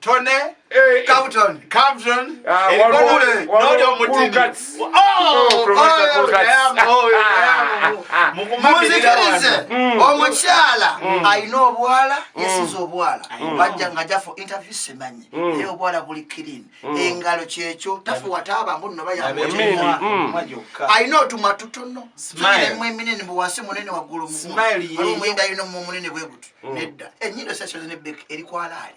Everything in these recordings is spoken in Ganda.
Tony eh, eh, Captain Captain ah, Elikule noli omutini oh, oh, oh, oh muzikirize mm. omukyala mm. alina obwala mm. yesiza obwala bajja nga ja for interview simanyi naye obwala buli clean engalo kyekyo tafuwa taaba mbu nno bayamwaa alina otumwa tutono emu eminene buwasi munene waggulu mumu ali omuyinda alina omu omunene bwebutu nedda enyindo sasyoze ne bek erikwalaali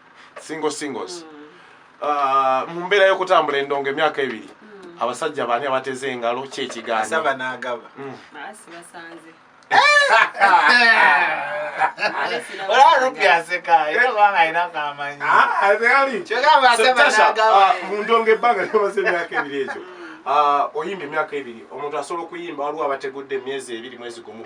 single singles mm. uh, mu mbeera y'okutambula endongo emyaka ebiri mm. abasajja baani abateze engalo ki ekigaanasaba n'agaba mm. mundonga ebbanga lyamaze emyaka ebiri ekyo uh, oyimba emyaka ebiri omuntu asobola okuyimba waliwo abategudde emyezi ebiri mwezi gumu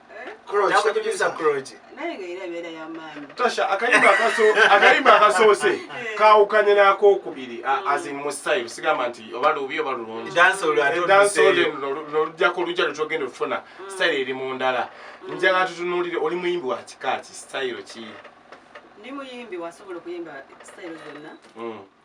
tasha akayimba akasoose eh. kawukanye nakokubiri azin mustyle sigamba nti oba lubi oba lulungidansolujako lujja lutogenda okufuna mm. style eri mu ndala njala tutunulire oli muyimbi wa kikaaki style ki ndi muyimbi wasobola okuyimba style zonna mm.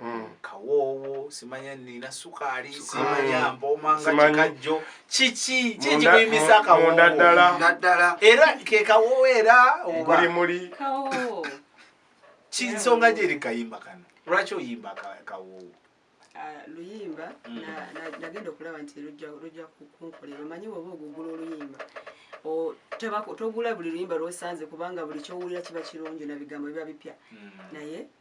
Mm. kawoowo simanya nina sukaali simanya mboma nga kikajjo kiki kikikuyimisa kawowonaddala era ke kawoowo era obalimuli kinsonga gyeri kayimba kano lwaki oyimba kawoowo ah, luyimba mm. nagenda okulaba nti lujja kunkolera omanyi woba ogugula oluyimba togula buli luyimba lwosanze kubanga buli kyowulira kiba kirungi nabigambo biba bipya mm. naye mm.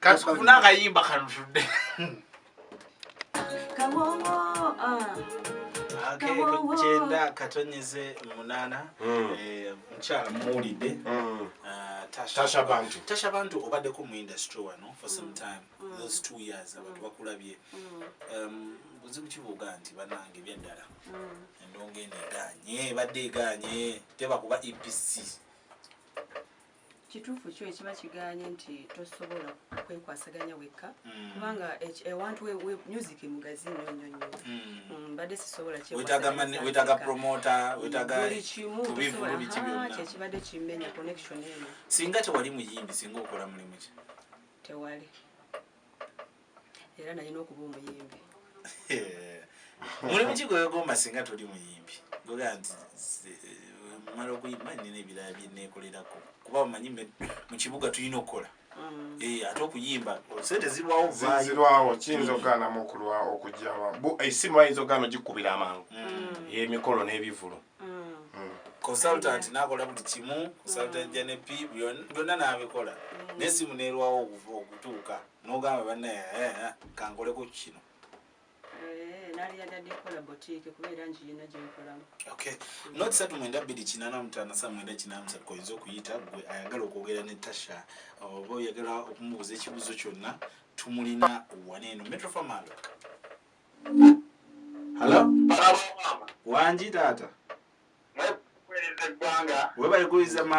katufuna akayimba kanutudde kyenda katonyeze munana hmm. eh, mukyala muwulidde hmm. ah, tasha bantu tasha bantu obaddeko mu industry wano for some hmm. time those two years abantu bakulabye um, buzibu kibuuga nti banange byaddala endonga eno eganye ebadde eganye tebakuba epc Kituufu kyo ekiba kigaanye nti tosobola kwekwasaganya wekka mm. kubanga ewantu eh, eh, music mugazi nnyo nnyo nnyo mm. mm, mbadde sisobola wetaaga promota wetaagabuli kimu ah, kyekibadde kimenya connection eno singa tewali muyimbi singa okola mulimu ki tewali era nalina okuba omuyimbi mulimu kigwegomba singa toli muyimbi goga nti mala okuyimba nina ebirala byenekolerako kuba omanyi mukibuga tulina okukola mm. eh, ate okuyimba sente zirwawozirwawo kiyinza okuganamu okulwa okujama esimu eh, bayinza okugana ogikubira amangu mm. eh, emikolo n'ebivulu consultant nakola buli kimu consultant janepi byonna nabikola nesimu nerwawo okutuuka nogamba bana eh, eh, eh, kankoleko kino not satu mwenda bbiri kinana mutana sa mwenda kinana musatu koyinza okuyita gwe ayagala okwogera ne tasha oba oyagala okumubuuza ekibuuzo kyonna tumulina wana eno metrofamalo halo wangi taata webalikuyiza man